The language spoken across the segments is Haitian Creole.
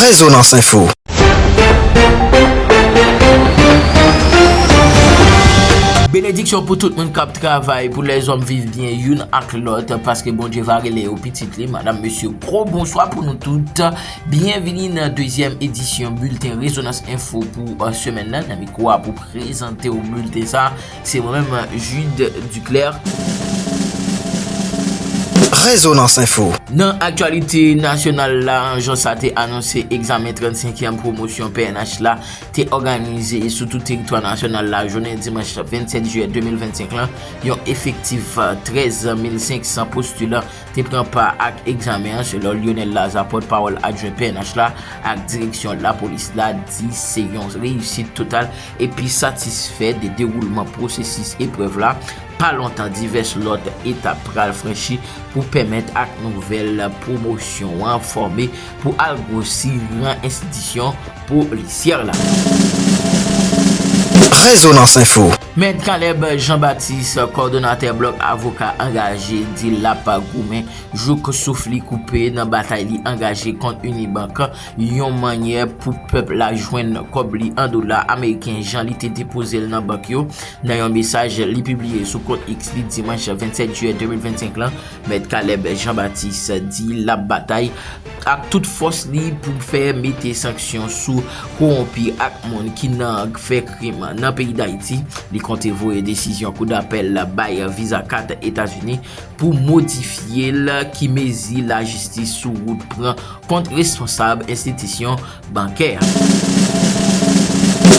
Rezonans Info. Benediksyon pou tout moun kap travay pou lèzòm viv byen youn ak lòt paske Bondye va rele yo pitit li madam mesye gwo bonswa pou nou tout byenvini nan dezyèm edisyon bilten rezonans enfo pou semèn nan nan mikwa pou prezante ou bilten sa Se mwen menm Jude Duclaire. Rezonans Info. Nan aktyalite nasyonal la, jan sa te anonse egzamen 35èm pwomosyon pnh la te òganize sou tout teritwa nasyonal la jounen dimanch 27 jiyè 2025 lan, yon efektif 13 mil 500 postilan te pran pa ak egzamen an selon Lyonel Lazarre pòt pawòl adjwen pnh la ak direksyon lapolis la di se yon reyisit total epi satisfè de dewoulman pwosesis eprèv la, pa lontan divès lòt etap pral franchi pou pèmèt ak nouvèl pwomosyon an fòme pou al gwosi ran enstitisyon polisyè la. Rezonans Info. Mèt Caleb Jean Baptiste, kòdonatè blòk avoka angaje di lap goumen jouk souf li koupe nan batay li angaje kont Unibank yon mannyè pou pèp la jwenn kòb li an dola ameriken jan li te depoze l nan bank yo. Nan yon mesaj li pibliye sou kont X li dimanch 27 jiyè 2025 lan, Mèt Caleb Jean Baptiste di lap batay ak tout fòs li pou fè mete sanksyon sou kowonpi ak moun ki nan fè krim nan peyi Dayiti. Li konte voye desizyon kou dapèl la bay viza 4 Etazini pou modifye l ki mezi lajistis sou wout pran kont responsab enstitisyon bankè a.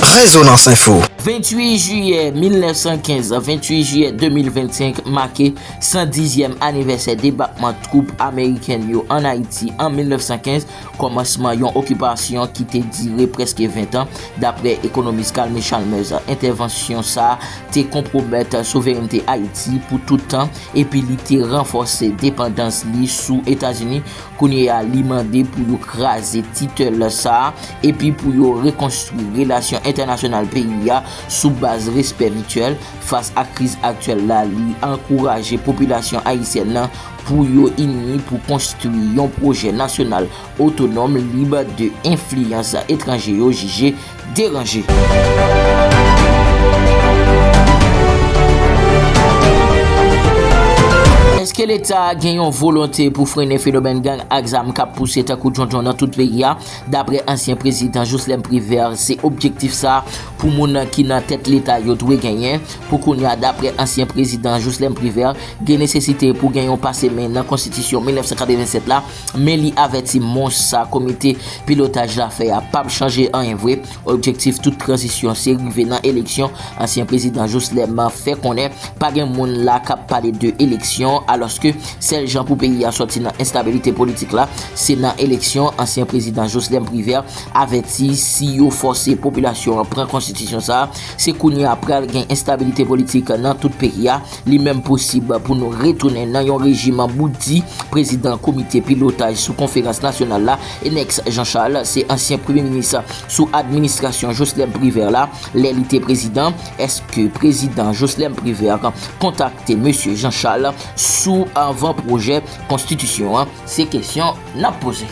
Rezonans Info. 28 jiyè 1915, 28 jiyè 2025 make 110 zyèm anivèsè debakman twoup amerikèn yo ann Ayiti an 1915, kòmansman yon okipasyon ki te dire prèske 20 tan, daprè ekonomis Calme Chalmers. Entèvansyon sa a te konpwomèt souverènte Ayiti pou tout tan epi li te ranfòse depandans li sou Etazini, Kounye a li mande pou yo kraze titèl sa a epi pou yo rekonstwi relasyon entènasyonal peyi a sou baz respè mityèl fas ak kriz aktyèl la li ankouraje popilasyon ayisyèn nan pou yo ini pou konstwi yon pwojè nasyonal otonòm lib de enfliyans etranje yo jije Eske leta gen yon volonte pou frene fenomèn gang ak zam k ap pouse tankou djondjon nan tout peyi a? Daprè ansyen prezidan Joslèm Privè, se objektif sa pou moun ki nan tèt leta yo dwe genyen. Pou kounya, daprè ansyen prezidan Joslèm Privè, gen nesesite pou gen yon pase men nan konstitisyon 1987 la, Men li avèti mons sa komite pilotaj la fè a pap chanje anyen vre, objektif tout tranzisyon se rive nan eleksyon, ansyen prezidan Joslèm fè konnen pa gen moun la kap pale de eleksyon alòske sèl jan pou peyi a sòti nan enstabilite politik la se nan eleksyon, ansyen prezidan Joslèm Privert avèti si yo fòse popilasyon an pran konstitisyon sa se kounye a pral gen enstabilite politik nan tout peyi a. Li menm posib pou nou retounen nan yon rejim bout di, prezidan komite pilotaj sou konferans nasyonal la, Enex Jean Charles, se ansyen premye minis sou administrasyon Joslèm Privè la, lè li te prezidan, èske prezidan Joslèm Privè kontakte mesye Jean Charles sou avan pwojè konstitisyon an? Se kesyon n ap poze.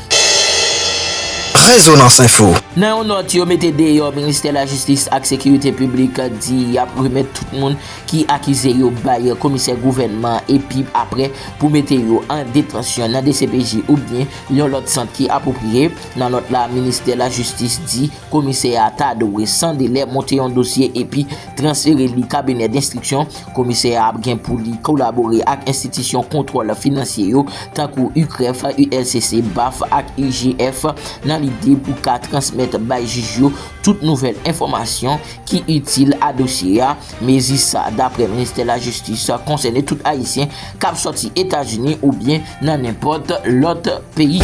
Rezonans Info. Nan yon nòt yo mete deyò, ministè lajistis ak sekirite piblik di y ap remèt tout moun. ki akize yo bay komisè gouvènman epi aprè pou mete yo an detansyon nan dcpj oubyen yon lòt sant ki apwopriye. Nan nòt la, ministè lajistis di komisè a ta dwe san delè monte yon dosye epi transfere li kabinè denstriksyon. Komisè a ap gen pou li kolabore ak enstitisyon kontwòl finansye yo tankou UCREF, ULCC, baf ak IGF nan lide pou ka transmèt bay jij yo tout nouvèl enfòmasyon ki itil a dosye a. Mezi sa, daprè Ministè Lajistis, konsène tout Ayisyen k ap sòti Etazini oubyen nan nenpòt lòt peyi.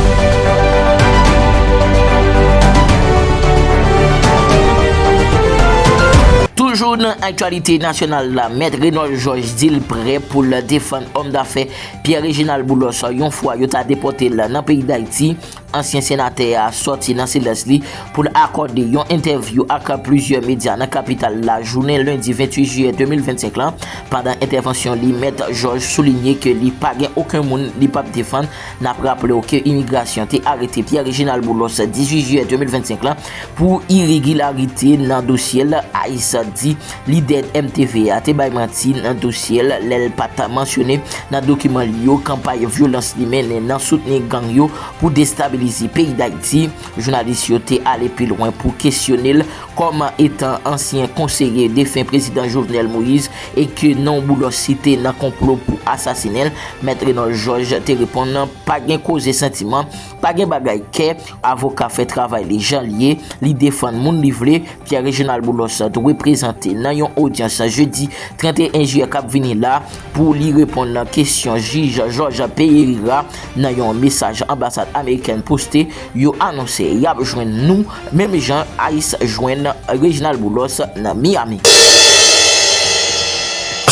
Toujou nan aktyalite nasyonal la, Mèt Renold Georges di l prè pou l defann òm dafè Pierre Réginald Boulos yon fwa yo ta depòte l nan peyi Dayiti. Ansyen senatè a sòti nan silans li pou l akòde yon entèvyou ak plizyè medya nan kapital la jounen lendi 28 jiyè 2025 lan. Pandan entèvansyon li, Mèt Jòj soulinye ke li pa gen oken moun li p ap defann. N ap raple w ke imigrasyon te arete Pierre Reginald Boulos 18 jiyè 2025 lan pou iregilarite nan dosye l, ice di. Lidè MTV a te bay manti nan dosye l lè l pa t mansyone nan dokiman li yo kanpay vyolans li mennen nan soutni gang yo pou destabilize peyi Dayiti. Jounalis yo te ale pi lwen pou kesyone l kòm etan ansyen konseye defen prezidan Jovenel Moïse e ke non Boulos site nan konplo pou asasinen l. Mèt Renol Jòj te reponn pa gen koze santiman. Pa gen bagay kè, avoka fè travay li jan li ye, li defann moun li vle, Pierre Reginald Boulos dwe prezante nan yon odyans jedi 31 jiyè kap vini la pou li reponn nan kesyon jij Georges Pereira nan yon mesaj anbasad amerikèn poste, yo anonse yap jwenn nou menm jan ice jwenn Reginald Boulos nan Miami.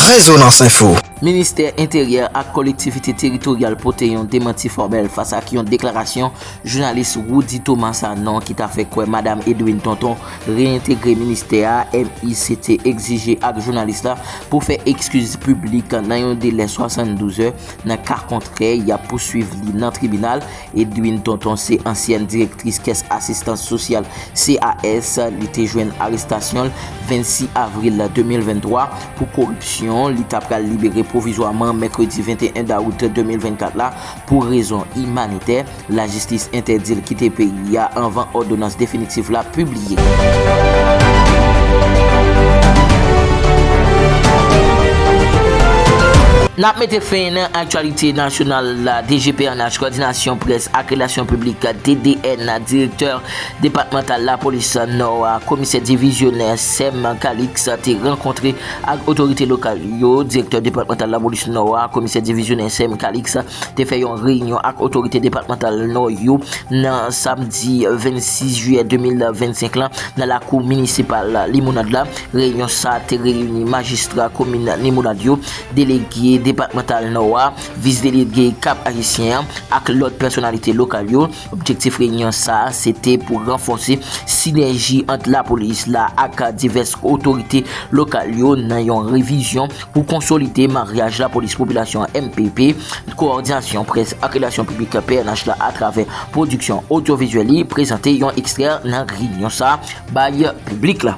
Rezonans Info. Ministè Enteryè ak Kolektivite Teritoryal pote yon demanti fòmèl fas ak yon deklarasyon jounalis Roudy Thomas Sanon ki ta fè kwè Madam Edwine Tonton reyentegre ministè a. MICT egzije ak jounalis la pou fè ekskiz piblik nan yon delè 72 zè, nan ka kontrè y ap pouswiv li nan tribinal. Edwine Tonton se ansyèn direktris kès asistans sosyal CAS, li te jwenn arestasyon l 26 avril 2023. pou koripsyon, li ta pral libere pwovizwaman mèkredi 21 dawout 2024 la pou rezon imanitè, lajistis entèdi l kite peyi a anvan òdonans definitif la pibliye. N ap mete fen nan aktyalite nasyonal la, DGPNH, Kòdinasyon Près ak Relasyon Piblik, DDN, Direktè. Depatmantal Lapolis Nò a, Komisè Divizyonè Sem Calix te rankontre ak otorite lokal yo. Direktè Depatmantal Lapolis Nò a, Komisè Divizyonè Sem Calix te fè yon reyinyon ak otorite depatmantal Nò yo nan samdi 26 jiyè 2025 lan nan lakou minisipal Limonad la. Reyinyon sa te reyini majistra komin Limonad yo, delege depatmantal Nò a, vis-delege Kap-Ayisyen an ak lòt pèsonalite lokal yo. Objektif reyinyon sa a se te pou ranfòse sinèji ant lapolis la ak divès otorite lokal yo nan yon revizyon pou konsolide maryaj lapolis-popilasyon mpp, Kowòdinasyon Près ak Relasyon Piblik pnh la atravè pwodiksyon odyovizyèl li prezante yon ekstrè nan reyinyon sa a bay piblik la.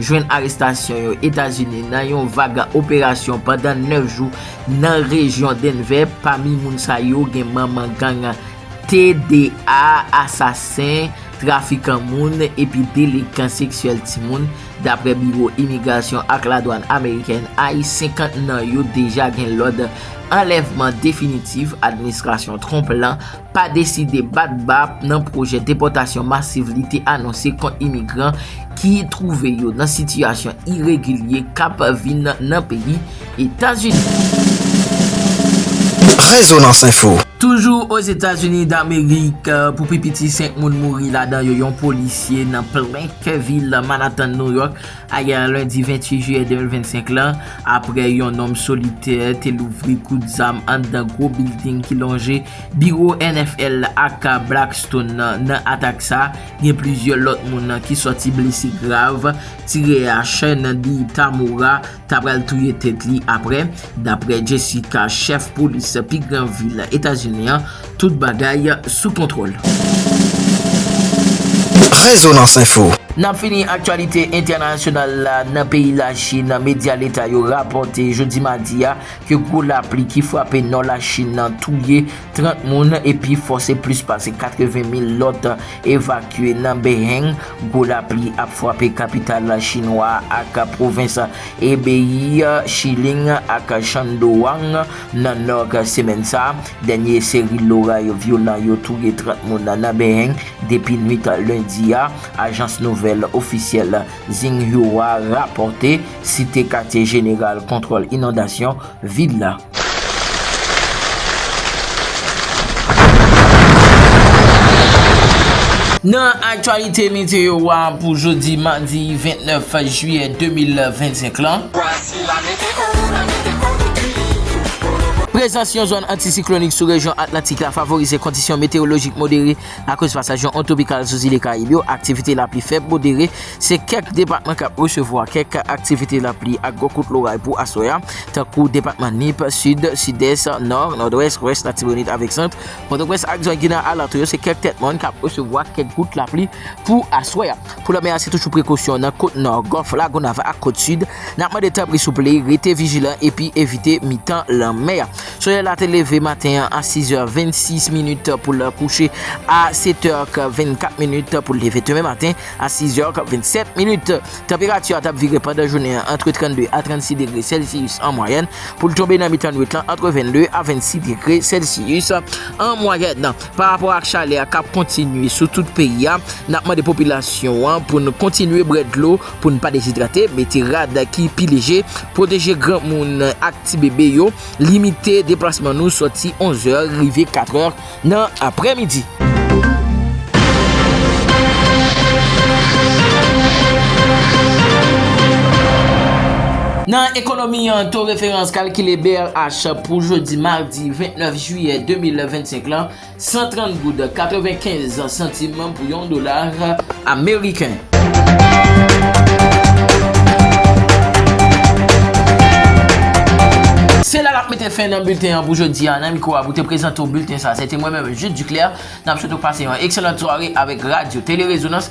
jwenn arestasyon yo Etazini nan yon vag operasyon pandan 9 jou nan rejyon Denver, pami moun sa yo gen manman gang TDA, asasen, trafikan moun epi delekan seksyèl timoun, dapre Biwo Imigrasyon ak Ladwann Amerikèn, ice, 50 nan yo deja gen lòd anlèvman definitif administrasyon Trump lan. pa deside bat ba nan pwojè depòtasyon masiv li te anonse kont imigran ki twouve yo nan sitiyasyon iregilye k ap vin nan peyi Etazini. Rezonans Info. Toujou Ozetazini Damerik, pou pi piti 5 moun mouri ladan yo yon polisye nan plen kè vil Manatan New York. Ayè lendi 28 jiyè 2025 lan, aprè yon nonm solitè te louvri kout zam anndan gwo bilding ki lonje biwo NFL ak Blackstone nan, nan atak sa, gen plizyè lòt moun ki sòti blese grav. Tirè a, Shendy Tamura, ta pral touye tèt li aprè, daprè Jessica, chèf polis pi gran vil Etazini an. Tout bagay sou kontwòl. Rezonans Info. N ap fini aktyalite entènasyonal la nan peyi Lachin. Medya leta yo rapòte jodi madi a ke gwo lapli ki frape nò Lachin nan touye 30 moun epi fòse plis pase 80 mil lòt evakye nan Beheng. Gwo lapli ap frape kapital chinwa ak pwovens Hebei, Shilin ak Shandong nan nò semèn sa a. Dènye seri loray vyolan yo touye 30 moun nan Beheng depi nwit lendi a, ajans nouvèl ofisyèl Xinhua rapòte, site katye jeneral kontwòl inondasyon vil la. Nan aktyalite meteyo a pou jodi madi 29 jiyè 2025 lan. Prezans yon zòn antisiklonik sou rejyon Atlantik la favorize kondisyon meteyolojik modere akoz pasaj yon ontwopikal sou zile Karayib yo. Aktivite lapli fèb modere se kèk depatman k ap resevwa kèk aktivite lapli ak gwo kout loray pou aswè a, tankou depatman Nip, Sid, Sidès, Nò, Nòdwès, Lwès, Latibonit avèk Sant. Pòtoprens ak zòn ki nan alantou yo se kèk tèt mòn k ap resevwa kèk gout lapli pou aswè a. Pou lòt mè a se toujou prekosyon nan kot nò, gòf Lagonav ak kot sid. N ap mande tanpri souple rete vijilan epi evite mitan lanmè a. Solèy la te leve maten an a 6 è 26 minit pou l kouche a 7 è 24 minit pou l leve demen maten a 6 è 27 minit. Tanperati a t ap vire pandan jounen an antre 32 a 36 degre sèlsiyis an mwayèn pou l tonbe nan mitan nuit lan antre 22 a 26 degre sèlsiyis an mwayèn. Pa rapò ak chalè a k ap kontinye sou tout peyi a, n ap mande popilasyon an pou n kontinye bwè dlo pou n pa dezidrate, mete rad ki pi leje, pwoteje granmoun ak tibebe yo, limite deplasman nou sòti 11 zè rive 4 è nan aprèmidi. Nan ekonomi an, to referans kalkile brh pou jodi madi. di 29 jiyè 2025 lan, 130 goud 95 santim pou yon dola ameriken. Se la nap mete fen nan bilten an pou jodi a nan mikro a pou te prezante ou bilten sa se te mwen menm Jude Duclair nap swete ou pase yon ekselant sware avèk radyo Tele Rezonans.